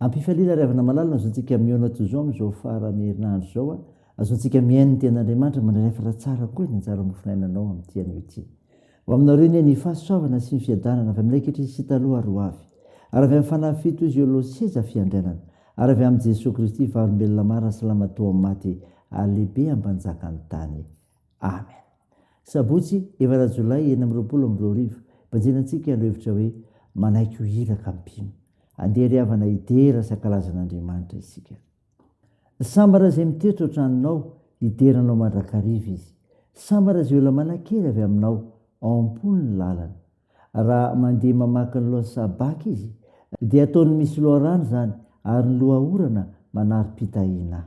Am-pifaliana ry havana malala no azontsika mihaona toy izao amin'izao faran'ny herinandro izao a! Azontsika mihaino ny Tenin'Andriamanitra mandranefatra tsara koa ny anjara mofonainanao amin'ity anio ity. Ho aminareo anie ny fahasoavana sy ny fiadanana avy aminay ankehitriny sy taloha ary ho avy. Ary avy amin'ny Fanahy Fito Izy eo aloha seza fiandrianana. Ary avy amin'i Jesoa Kristy, Vavolombelona marina sy Lamatoa amin'ny maty, ary Lehibe ambanjakan'ny tany. Amen. Sabotsy, efatra jolay enina amby roapolo amby roa arivo, banjina antsika ireo hevitra hoe manaiky ho iraka amin'ny mpino. Andeha ry havana hidera sakalazan'Andriamanitra isika. Sambara izay mitoetra ao tranonao, hidera anao mandrakariva izy. Sambara izay olona manan-kery avy aminao, ao am-pony ny lalany. Raha mandeha mamaky ny lohan'ny sabàka izy, dia ataony misy loharano izany, ary ny loha orana manari-pitahiana.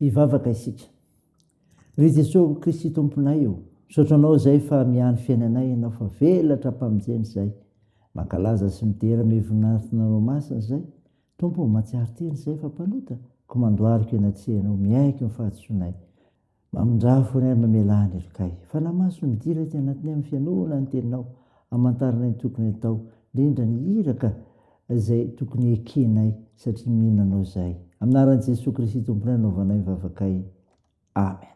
Hivavaka isika. Ry Jesosy Kristy Tomponay o, misaotra Anao izay fa mihaino fiainanay Ianao fa velatra am-pamonjena izay. Mankalaza sy midera amin'io voninahitr'Nareo Masina izay. Tompo o, mahatsiaro tena izay fa mpanota, koa mandohalika eny an-tsehanao, miaiky ny fahadisoanay. Mamindraha foana ahy mamelà ny helokay. Fanamaso ny dila ety anatiny amin'ny fihainoana ny teninao. Amantarana ny tokony atao, indrindra ny iraka izay tokony hekenay satria mino anao izahay. Amin'ny anaran'i Jesoa Kristy Tomponay no nanaovanay ny vavakay. Amen.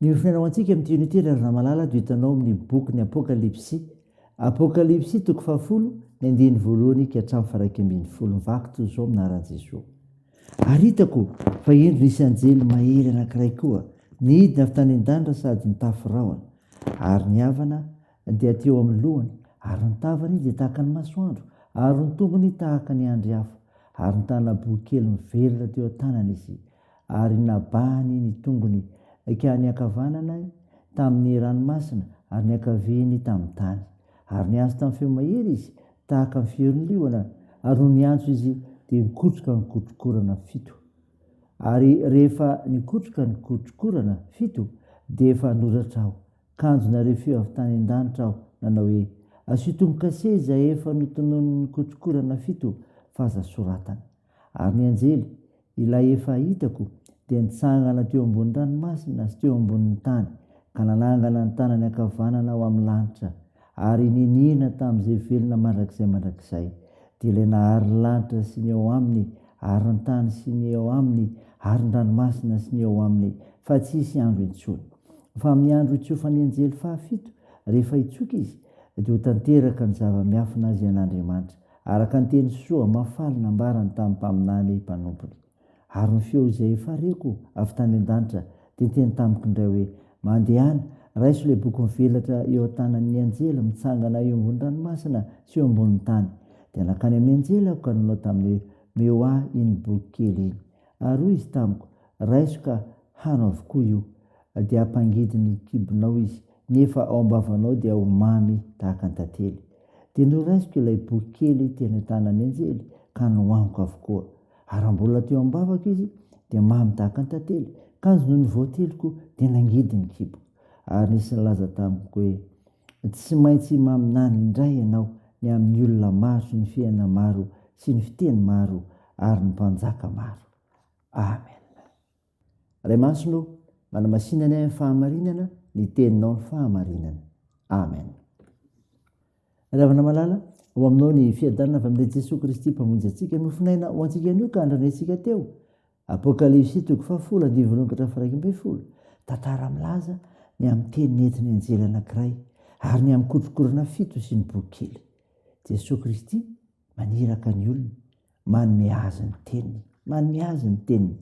Miofona ho antsika amin'ity unité ry Razamalala dia hitanao amin'ny bokin'ny Apokalypsy. Apokalypsy toko fahafolo, ny andininy voalohany ka hatramin'ny faha iraika ambin'ny folo. Vaky toy izao amin'ny anaran'i Jesoa. Ary hitako fa hendry nisy anjely mahery anankiray koa, nidina avy tany an-danitra sady nitafy rahona, ary ny havana dia teo amin'ny lohany, ary ny tavany dia tahaka ny masoandro, ary ny tongony tahaka ny andry afo, ary nitana bohy kely mivelona teo an-tanany izy, ary nabahany ny tongony ka ny ankavanany tamin'ny ranomasina, ary ny ankaviany tamin'ny tany, ary niantso tamin'ny feo mahery izy, Tahaka ny fiorin'ny liona, ary nony hiantso izy dia nikotroka ny kotrokorana fito. Ary rehefa nikotroka ny kotrokorana fito dia efa noratra aho, kanjo nare feo avy tany an-danitra aho nanao hoe, Asio tombo-kase izay efa notononin'ny kotrokorana fito fa aza soratana. Ary ny anjely, ilay efa hitako, dia nitsangana teo ambonin'ny ranomasina sy teo ambonin'ny tany, ka nanangana ny tanany ankavanana ho amin'ny lanitra, ary niniana tamin'izay velona mandrakizay mandrakizay, dia ilay nahary ny lanitra sy ny ao aminy, ary ny tany sy ny ao aminy, ary ny ranomasina sy ny ao aminy, fa tsy hisy andro intsony. Fa amin'ny andro hitsofan'ny anjely fahafito, rehefa hitsoka izy, dia ho tanteraka ny zava-miafina izay an'Andriamanitra, Araka ny teny soa mahafaly nambarany tamin'ny mpaminany mpanompony. Ary ny feo izay efa reko avy tany an-danitra dia niteny tamiko indray hoe, Mandehana, raiso ilay boky mivelatra eo an-tanan'ny anjely mitsangana eo ambony ranomasina sy eo ambonin'ny tany. Dia nankany amin'ny anjely aho ka nanao taminy hoe, Meo ahy iny boky kely iny. Ary hoy izy tamiko, Raiso ka hano avokoa io. Dia hampangidy ny kibonao izy, nefa ao am-bavanao dia ho mamy tahaka ny tantely. Dia noraisiko ilay boky kely teny an-tanan'ny anjely ka nohaniko avokoa. Ary raha mbola teo am-bavako izy, dia mamy tahaka ny tantely. Kanjo nony voateliko, dia nangidy ny kibo. Ary nisy nilaza tamiko hoe, Tsy maintsy himaminany indray ianao ny amin'ny olona maro sy ny fiainana maro sy ny fiteny maro ary ny mpanjaka maro. Amen. Ray Masina ô, manamasina ny ahy amin'ny fahamarinana, ny teninao ny fahamarinana. Amen. Ravana malala, ho aminao ny fiadanana avy amin'ilay Jesoa Kristy mpamonjy antsika, nofonaina ho antsika anio ka andranentsika teo. Apokalypsy toko fahafolo andivo voalohany ka hatramin'ny faharaika ambin'ny folo. Tantara milaza ny amin'ny teny nentin'ny anjely anankiray ary ny amin'ny kotrokorana fito sy ny boky kely. Jesoa Kristy maniraka ny olony Manome azy ny teniny. Manome azy ny teniny.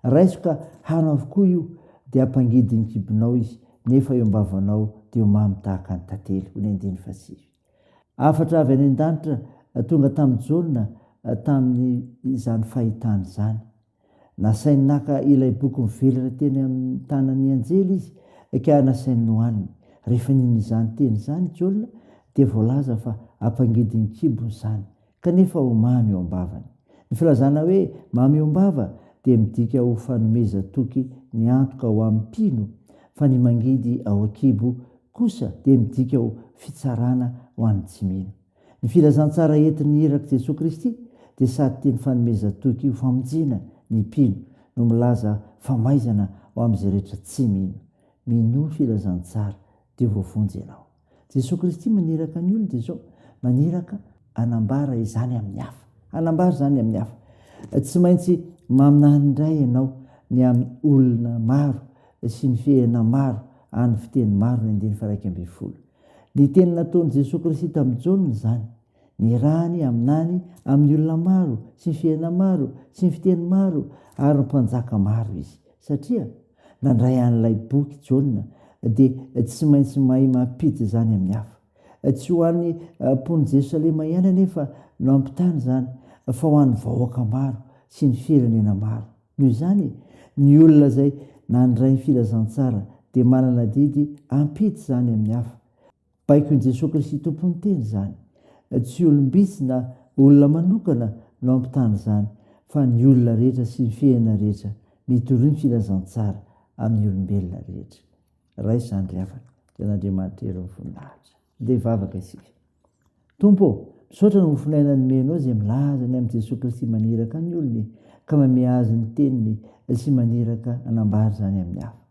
Raiso ka hano avokoa io, dia ampangidin'ny kibonao izy, nefa eo am-bavanao dia ho mamy tahaka ny tantely. Ony andininy fahasivy. Hafatra avy any an-danitra tonga tamin'i Jaona tamin'izany fahitany izany. Nasainy naka ilay boky mivelona teny amin'ny tanan'ny anjely izy, ka nasainy nohaniny. Rehefa nino izany teny izany i Jaona, dia voalaza fa ampangidin'ny kibo izany, kanefa ho mamy eo am-bavany. Ny filazana hoe mamy eo am-bava dia midika ho fanomezan-toky ny antoka ho amin'ny mpino, fa ny mangidy ao an-kibo kosa dia midika ho fitsarana ho an'ny tsy mino. Ny filazantsara entin'ny irak'i Jesoa Kristy dia sady teny fanomezan-toky ho famonjena ny mpino no milaza famaizana ho amin'izay rehetra tsy mino. Minoa filazantsara dia voavonjy ianao. Jesoa Kristy maniraka ny olona izao, maniraka hanambara izany amin'ny hafa. Hanambara izany amin'ny hafa. Tsy maintsy maminany indray ianao ny amin'ny olona maro sy ny fihena maro an'ny fiteny maro ny andininy faha iraika ambin'ny folo. Ny teny nataon'i Jesoa Kristy tamin'i Jaona izany, ny rany aminany amin'ny olona maro sy ny fiainana maro sy ny fiteny maro ary ny mpanjaka maro izy. Satria nandray an'ilay boky Jaona dia tsy maintsy mahay mampiditra izany amin'ny hafa. Tsy ho an'ny mponin'i Jerosalema ihany anefa no hampitana izany fa ho an'ny vahoaka maro sy ny firenena maro. Noho izany, ny olona izay nandray ny filazantsara dia manana adidy ampita izany amin'ny hafa. Baikon'i Jesoa Kristy Tompon'ny Teny izany. Tsy olom-bitsy na olona manokana no hampitana izany, fa ny olona rehetra sy ny fihena rehetra mitory ny filazantsara amin'ny olombelona rehetra. Raisa andry havana, dia an'Andriamanitra Hery Mivoninahitra. Ndeha hivavaka isika. Tompo ô, misaotra noho ny fon'aina nomenao izay milaza ny amin'i Jesoa Kristy maniraka ny olony ka mamehy azy ny teniny sy maniraka hanambara izany amin'ny hafa.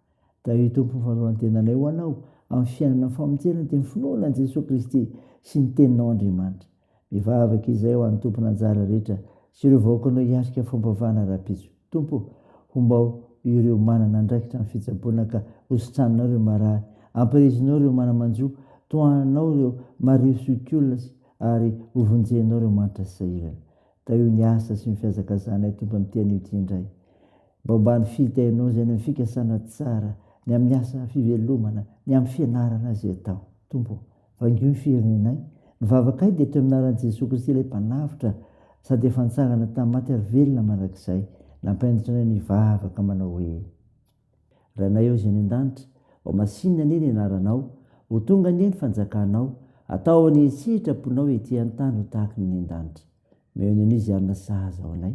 Tahio Tompo ny fanoloran-tenanay ho Anao amin'ny fiainana ny famonjena dia ny finoana an'i Jesoa Kristy sy ny teninao Andriamanitra. Mivavaka izahay ho an'ny tompon'anjara rehetra sy ireo vahoakanao hiatrika fampavahana rahampitso. Tompo ô, hombao ireo manana andraikitra amin'ny fitsaboana ka hositraninao ireo marary, ampirisihinao ireo mana-manjo, tohananao ireo marivo sy okiolona sy ary hovonjenao ireo manitra sy sahirana. Tahio ny asa sy ny fihazakazahanay Tompo amin'ity anio ity indray. Mba hombany fitahianao izay ny amin'ny fikasana tsara, ny amin'ny asa fivelomana, ny amin'ny fianarana izay atao. Tompo ô, Vangio ny firenenay. Ny vavakay dia teo amin'ny anaran'i Jesoa Kristy ilay Mpanavotra sady efa nitsangana tamin'ny maty ary velona mandrakizay. Nampahenditra anay nivavaka manao hoe, Ranay ao izay any an-danitra, ho masinina anie ny anaranao, ho tonga anie ny fanjakanao, atao anie ny sitraponao ety an-tany ho tahaka ny any an-danitra. Meo ny an'izy ary na sahaza ho anay,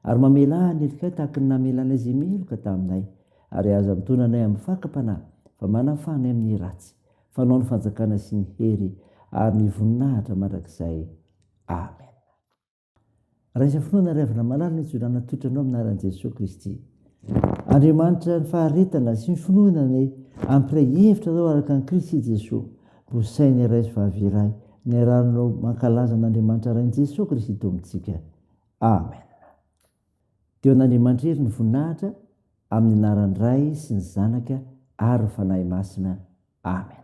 ary mamelà ny helokay tahaka ny namelà anay izay meloka taminay, ary aza mitoana anay amin'ny fakam-panahy, fa manafà anay amin'ny ratsy. Fanao ny fanjakana sy ny hery ary ny voninahitra mandrakizay. Amen. Raisa finoana ary avana malala ny hijorana tolotra anao amin'ny anaran'i Jesoa Kristy. Andriamanitra ny faharetana sy ny finoana ny hampiray hevitra anao araka an'i Kristy Jesoa. Ho sain'ny iray sy vavy iray. Niaraha-nanao mankalaza an'Andriamanitra Rain'i Jesoa Kristy Tompon-tsika. Amen. Dia ho an'Andriamanitra irery ny voninahitra amin'ny anaran'ny Ray sy ny Zanaka ary ny Fanahy Masina. Amen.